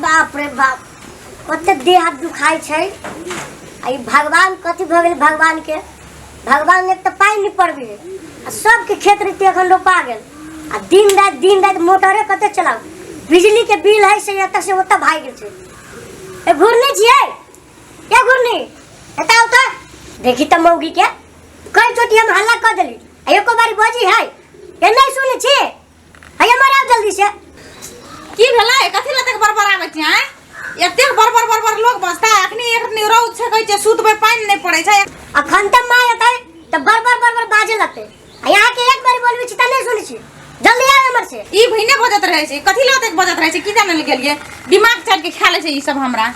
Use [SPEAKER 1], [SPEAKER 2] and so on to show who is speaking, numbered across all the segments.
[SPEAKER 1] बाप रे बाप कते देह हाथ दुखाइ छै आ ई भगवान कथी भऽ गेल भगवान के भगवान ने तऽ पानि नहि पड़बै आ सबके खेत रीति एखन रोपा गेल आ दिन राति दिन राति मोटरे कते चलाउ बिजली के बिल है से एतऽ से ओतऽ भागि गेल छै ए घुरनी छियै ए घुरनी एतऽ ओतऽ देखी तऽ मौगी के कई चोटी हम हल्ला कऽ देली आ एको बारी बजी है ए नहि सुनै छी अरे मरा जल्दी से की भेलै
[SPEAKER 2] कथी लए तक बरबर आबै छी आँय एतेक बरबर बरबर लोग बसता है अखनी एक दिन रौद छै कहै छै सुतबै पानि नहि पड़ै छै अखन तऽ माय
[SPEAKER 1] एतै तऽ बरबर बरबर बाजे लगतै आ यहाँ के एक बार बोलबै छी तऽ नहि सुनै छी जल्दी आब हमर से ई भइने बजत रहै
[SPEAKER 2] छै कथी लए तक बजत रहै छै की जानै लए गेलियै दिमाग चढ़ के खा लै छै ई सब हमरा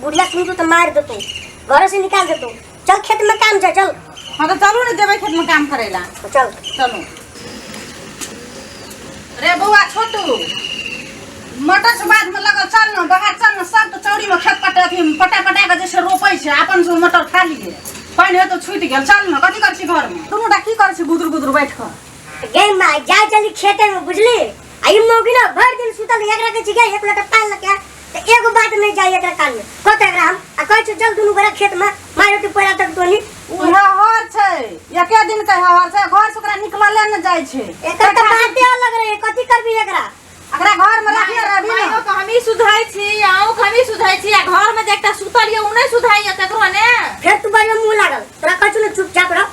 [SPEAKER 1] बुढ़िया सुनतो तो मार देतो घर से निकाल देतो चल खेत में काम जा चल हाँ तो चलू ना जेबै
[SPEAKER 2] खेत में काम करे ला तो चल
[SPEAKER 1] चलू
[SPEAKER 2] रे बौआ छोटू मटर से बाद में लगल चल न बाहर चल न सब तो चौरी में खेत पटा अथी पटा पटा के जैसे रोपै छै अपन से मटर खा लिए पानि हेतौ छुटि गेल चल न कथी कर छी घर में दुनू टा की कर छी गुदुर गुदुर बैठ कऽ तो गई माँ जा
[SPEAKER 1] चली खेते में बुझली आई मौगी ना भर दिन सुतल एक रखे छी गई एक लोटा पान लके त एगो बात नहीं जाई एकरा कान में कत एकरा हम आ कहै छु चल दुनु गोरा खेत में मारो तू पैरा तक तोनी उहे हर
[SPEAKER 2] छै एके दिन के हर छै घर से ओकरा निकलले न जाइ छै एकर त बाते
[SPEAKER 1] अलग रहे कथि करबी एकरा एकरा घर में
[SPEAKER 2] रखले रहबी मायो न के हमही सुधाइ छी आउ के हमही सुधाइ छी आ घर में जे एकटा सुतल ये उ नै सुधाइ ये ककरो ने फेर तू बड़िया मुंह
[SPEAKER 1] लागल तोरा कहै छु न चुपचाप रह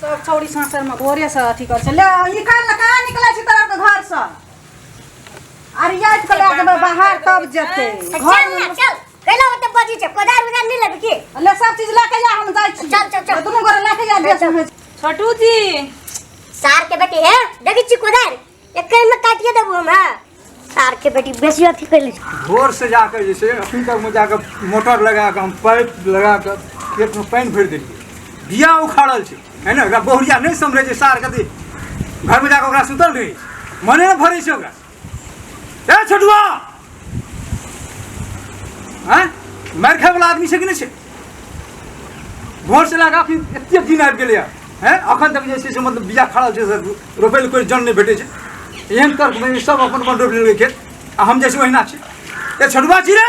[SPEAKER 2] सब छौड़ी सासरमे भोरेसँ अथी करै छै ले निकाल ने कहाँ निकलै छी तोरा के घरसँ अरियाइत के लए जेबै बाहर तब जेतै चल घरमे ना चल
[SPEAKER 1] कैला ओते बजी छै कोदार उदार नहीं लेबे की ले सब चीज लए के जा
[SPEAKER 2] हम जाइ छी चल, चल, चल। दुनू गोरे लए के
[SPEAKER 1] जा देश
[SPEAKER 2] में छोटू जी सार
[SPEAKER 1] के बेटी है देखी छी कोदार एके में काटिए देबू हम हाँ सार के बेटी बेसी अथी कर ली भोर से जाकर जे
[SPEAKER 3] छै अखन तक में जाकर मोटर लगा कऽ हम पाइप लगा कऽ खेतमे पानि भरि देलियै बिया उखाड़ल छै है ने एकरा बहुरिया नहि समझै छै सार कथी घरमे जाकऽ ओकरा सुतल रहै छै मने नहि भरै छै ओकरा ए छोटुआ हाँ मारि खायवला आदमी छै कि नहि छै घरसँ लए कऽ अखन एतेक दिन आबि गेलैए हैं अखन तक जे छै से मतलब बीजा खड़ा छै सर रोपै लए कोइ जन नहि भेटै छै एहन तर्कमे सब अपन अपन रोपि लेलकै खेत आ हम जे छै ओहिना छी ए छोटुआ छी रे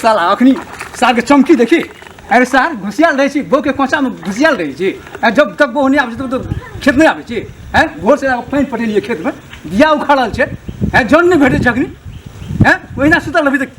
[SPEAKER 1] साला अखनी
[SPEAKER 3] सार के चमकी देखी अरे सार घुसियाल रहे छी बो के कोचा में घुसियाल रहे छी अरे जब तक बो नहीं आबे तब तो खेत नहीं आबे छी हैं भोर से आके पानी पटेलिए खेत में बिया उखाड़ल छै हैं जन नहीं भेटे छै अखनी हैं ओहिना सुतल अभी तक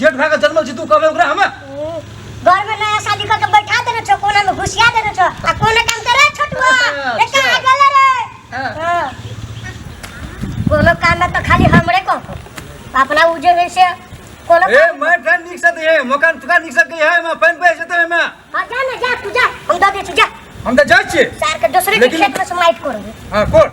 [SPEAKER 3] जेठ भाई का जन्मल छी तू कहबे ओकरा हमें हम्म, घर में
[SPEAKER 1] नया शादी करके बैठा देने छो कोना में घुसिया देने छो आ कोना काम करे छोटुआ रे कहाँ गेल रे हाँ। हाँ। कोनो काम में तो खाली हमरे को अपना उ जे है से कोनो ए काम- मैं फैन निक
[SPEAKER 3] सत है मकान तुका निक सत है मैं फैन पे जते मैं हाँ, जा ना जा तू जा
[SPEAKER 1] हम दे दे तू जा हम त जाय छी
[SPEAKER 3] सार के दूसरे के लेकिन- खेत
[SPEAKER 1] में समाइट करोगे हां कोर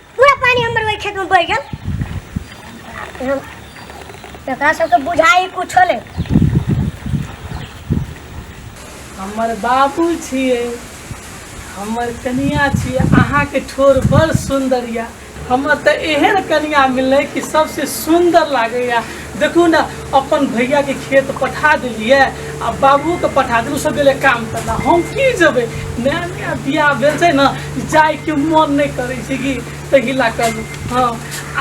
[SPEAKER 1] पूरा पानी हमर ओहि खेत में बह गेल हम- एकरा सबके बुझाई कुछो ले
[SPEAKER 4] हमर बाबू छियै हमर कनिया छियै अहाँके ठोर बड़ सुन्दर यऽ हमर तऽ एहन कनिया मिललै कि सबसे सुन्दर लागैया देखू ने अपन भैया के खेत पठा देलिए आ बाबू के पठा देलू सब गेले काम करना हम की जेबै नया नया बियाह भेल छै ने जाय के मन नहि करै छै कि ताहि लए कहलू हँ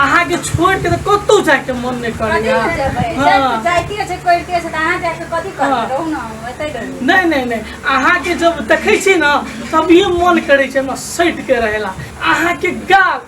[SPEAKER 4] अहाँ के छोड़ के तऽ कतौ जाय के मन नहि कथी करैया लए जेबै? हँ। जब जाइते छै करिते छै तऽ अहाँ जाके
[SPEAKER 2] कथी करबै हँ। रहू ने हम एतै रहू नहि नहि नहि अहाँके
[SPEAKER 4] जब देखै छी ने तभिए मन करै छै हमरा सटि के रहेला अहाँके गाल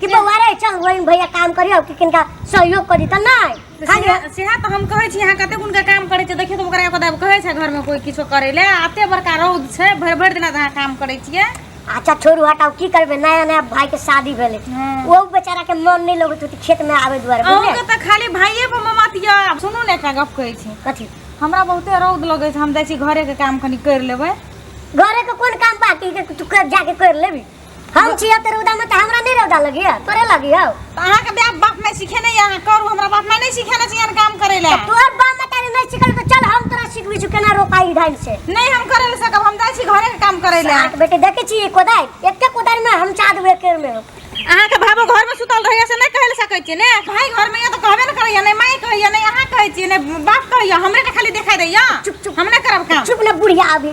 [SPEAKER 1] कि बौआ रे चल वही भैया काम करियो कि किनका सहयोग करी त नहीं तो खाली सेहा- सेहा तो हम कहै छी
[SPEAKER 2] अहाँ कते गुण के काम करै छै देखियौ तऽ ओकरा कदा कहै छै घर में कोई किछो करै ले आते बड़का रौद छै भरि भरि दिना तऽ अहाँ काम करै छियै अच्छा छोड़ू हटाओ
[SPEAKER 1] की करबे नया नया भाई के शादी भेले हाँ। वो बेचारा के मन नहीं लगत होती खेत में आवे दुआरे अहूँ बुझले के तऽ खाली भाइये
[SPEAKER 2] पर ममत यऽ सुनू ने एकटा गप कहै छी कथी हमरा बहुते
[SPEAKER 1] रौद
[SPEAKER 2] लगै छै हम जाइ छी घरे के काम कनी करि लेबै घरे के कोन
[SPEAKER 1] काम बाकी के तू कर जाके कर लेबी हम छिया ते रौदा में त हमरा नहीं रौदा लगी है तोरे लगी है तो अहाँ के बाप बाप
[SPEAKER 2] में सीखे नहीं अहाँ करू हमरा बाप में नहीं सीखे ना चाहिए काम करे ला तोर बाप में तारे नहीं
[SPEAKER 1] सिखल तो चल हम तोरा सिखबी छु केना रोपाई ढंग से नहीं हम करे ले सकब
[SPEAKER 2] हम जाय छी घरे के
[SPEAKER 1] काम
[SPEAKER 2] करे
[SPEAKER 1] ला
[SPEAKER 2] सात
[SPEAKER 1] बेटे देखे छी
[SPEAKER 2] कोदार एके
[SPEAKER 1] कोदार
[SPEAKER 2] में
[SPEAKER 1] हम
[SPEAKER 2] चाद
[SPEAKER 1] हुए केर में अहाँ
[SPEAKER 2] के भाबो घर में सुतल रहैया से नहीं कहले सकै छी ने भाई घर में ये तो कहबे न करैया नहीं माई कहैया नहीं अहाँ कहै छी नहीं बाप कहैया हमरे के खाली देखाई दैया चुप चुप हम नहीं करब काम
[SPEAKER 1] चुप ना
[SPEAKER 2] बुढ़िया अभी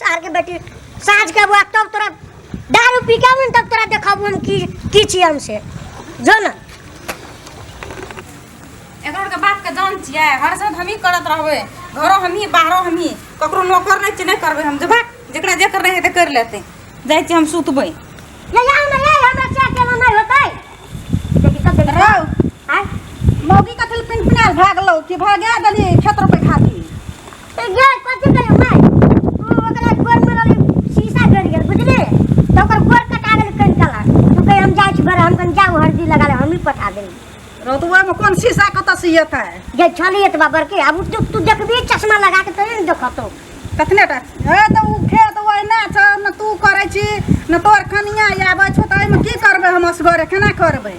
[SPEAKER 1] सार के बेटी साँझ के बुआ तब तोरा दारू पी के मन तब तोरा देखब हम की की छी हमसे जो ना
[SPEAKER 2] एकर के बात के जान छियै हर साथ हमही करत रहबै घरो हमही बाहरो हमही ककरो नौकर नहि छै नहि करबै हम जेबै जेकरा जे करना हेतै करि लेतै जाइ छी हम सुतबै ले जाओ ना
[SPEAKER 1] ले हमरा से अकेला नहीं होतै देखी तब देखी रौ आय मौगी कथी
[SPEAKER 2] लए पिनपिनायल भए गेलौ कि भए गेल देली खेत रोपै खातिर तऽ गे
[SPEAKER 1] कथी कहियो माय तू ओकरा गोर में रहली शीशा गिर गेल बुझली तऽ ओकर गोर कटा गेल कन कला तू कहे हम जाइ छी घर हम कन जाऊ हरदी लगा ले हमही पटा देली रौतुआ में कौन शीशा
[SPEAKER 2] कत से येते जे छली एतबा
[SPEAKER 1] बड़के आब तू तू देखबी चश्मा लगा के तोरे ने देखतो कतने टा
[SPEAKER 2] हे तऽ उ खेत ओहिना छ न तू करै छी न तोर कनिया आबै छौ तऽ एहिमे की करबै हम असगरे केना करबै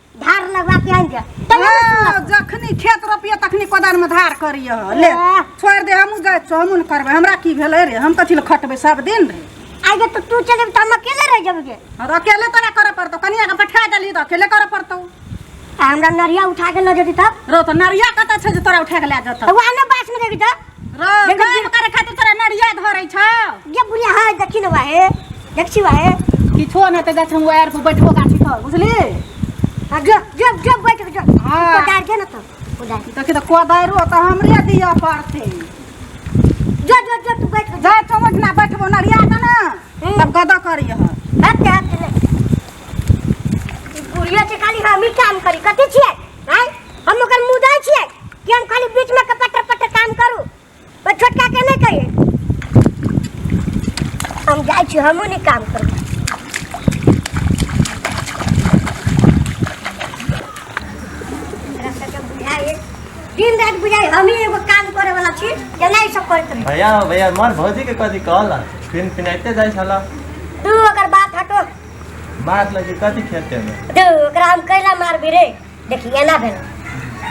[SPEAKER 1] धार लगवा के आइन जा तैयो ने सुनत। हाँ, जखनी
[SPEAKER 2] खेत रोपिए तखनी कोदार में धार करिए ले एह। छोड़ दे हमहूँ जाइ छौ हमहूँ ने करबै हमरा की भेलै रे हम कथी लए खटबै सब दिन रे आइ जे तो तू चल
[SPEAKER 1] जेबी त हम अकेले रह जेबी जे और अकेले तोरा करऽ
[SPEAKER 2] पड़तौ कनिया के बैठा देली तऽ अकेले करऽ पड़तौ आ हमरा
[SPEAKER 1] नरिया उठा के ल जेती तब रौ तऽ नरिया कतऽ
[SPEAKER 2] छै जे तोरा उठा के लए जेतौ त वहां ने बास में जेबी त
[SPEAKER 1] रे काम करे
[SPEAKER 2] खातिर तोरा नरिया धरै छौ ये बुढ़िया हाँ
[SPEAKER 1] देखी ना वाहे देखी वाहे किछो न त जाछ
[SPEAKER 2] हम वायर पर बैठबो गाछी पर बुझली हाँ जो
[SPEAKER 1] जो जो बैठ के जो हाँ। ऊपर डाल के ना तो
[SPEAKER 2] ऊपर
[SPEAKER 1] डाल देखि त कोदारो
[SPEAKER 2] त हमरे दिय पड़ते
[SPEAKER 1] जो जो जो तू बैठ के जा जा चमच ना बैठबो
[SPEAKER 2] नरिया त ना हम्म। तब गदा करिय हाथ के हाथ के
[SPEAKER 1] ले बुढ़िया से खाली हम ही काम करी कथी छियै हैं हम ओकर मुंह दे छिए कि हम खाली बीच में कपटर पटर काम करू पर छोटका के नहीं कहिए हम जाए छी हमहू नहीं काम करू दिन रात बुझाई हम ही एगो काम करे वाला छी जेना ई सब करत रही भैया भैया मर भौजी
[SPEAKER 5] के कथी कहला फिन फिनाइते जाइ छला तू ओकर
[SPEAKER 1] बात हटो मार लगे
[SPEAKER 5] कथी खेते में दे ओकरा हम कैला
[SPEAKER 1] मारबी रे देखी एना भेल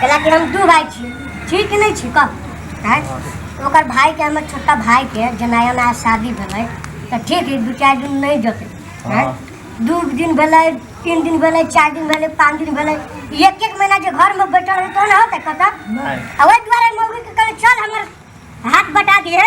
[SPEAKER 1] कैला कि हम दू भाई छी छी कि नहीं छी कह हैं? तो ओकर भाई के हमर छोटका भाई के जनाया ना शादी भेलै तऽ ठीक है दू चारि दिन नहीं जते हैं? हाँ। दू दिन भेलै तीन दिन भेलै चारि दिन भेलै पाँच दिन भेलै एक एक महीना जे घर में बैठल रहतौ ना होतै कतऽ नहीं आ ओहि दुआरे
[SPEAKER 5] मौगी
[SPEAKER 1] के कहले चल हमर हाथ बटा दिए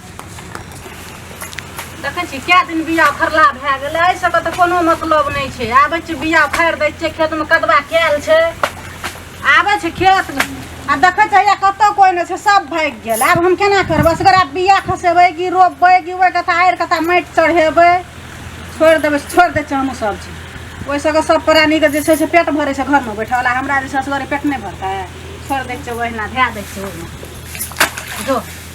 [SPEAKER 2] देखै छी कए दिन बिया फरला भए गेलै एहि सबके तऽ कोनो मतलब नहि छै आबै छी बिया फाड़ि दै छियै खेतमे कदबा कयल छै आबै छै खेतमे आ देखै छै या कतौ कोइ नहि छै सब भागि गेल आब हम केना करबै असगरा बिया खसेबै कि रोपबै कि ओहि कथा आड़ि कथा माटि चढ़ेबै छोड़ि देबै छोड़ि दै छियै हमहूँ सब चीज ओहि सबके सब प्राणीके जे छै से पेट भरै छै घरमे बैठल आ हमरा जे छै असगरे पेट नहि भरतै छोड़ि दै छियै ओहिना धए दै छियै ओहिमे जो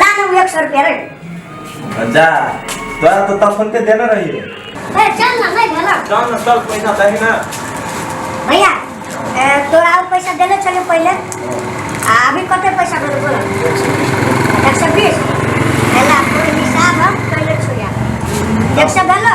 [SPEAKER 5] ला ना एक सौ
[SPEAKER 1] रुपया रे जा
[SPEAKER 5] तोरा तो तब फोन पे देना रही है ए, चल ना नहीं
[SPEAKER 1] भेला चल ना चल पैसा
[SPEAKER 5] दही ना भैया
[SPEAKER 1] ए, तोरा और पैसा देले चले पहले आ अभी कते पैसा भेल बोला एक सौ बीस भेला पूरे हिसाब हम कैले छोड़िया एक सौ भेलो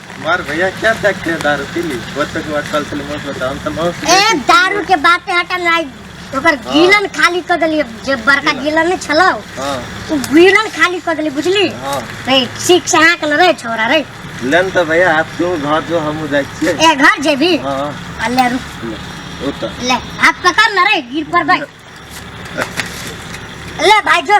[SPEAKER 1] मार भैया क्या
[SPEAKER 5] देखते हैं दारू पी ली बच्चों के बाद कल से मत बताओ हम तो मौत ए
[SPEAKER 1] दारू के बात है हटा ना ओकर गीलन खाली कर देली जे बड़का गीलन नहीं छलो हाँ उ
[SPEAKER 5] गीलन
[SPEAKER 1] खाली कर देली बुझली हाँ रे सीख
[SPEAKER 5] से
[SPEAKER 1] हाँक न रे छोरा रे लेन तो भैया आप
[SPEAKER 5] क्यों घर जो हम जाए छिए ए घर जेबी
[SPEAKER 1] हाँ आ ले
[SPEAKER 5] रुक ले,
[SPEAKER 1] ओ तो ले
[SPEAKER 5] हाथ पकड़ न
[SPEAKER 1] रे गिर पर भाई ले भाई जो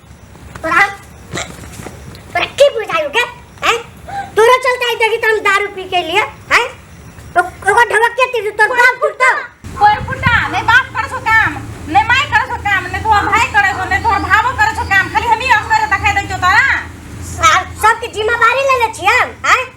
[SPEAKER 1] तोरा तोरा की बुझायो के हैं तोरा चलते आई देखी तुम दारू पी के लिए हैं तो ओकर ढबक के तीर तोर बाप फुटता कोई फुटा
[SPEAKER 2] नहीं बाप करे सो काम नहीं माई करे सो काम नहीं तोहर भाई करे सो नहीं तोहर भावो करे सो काम खाली हम ही अफसर देखाई दै छौ तोरा सब सबके जिम्मेवारी
[SPEAKER 1] ले ले छी हम हैं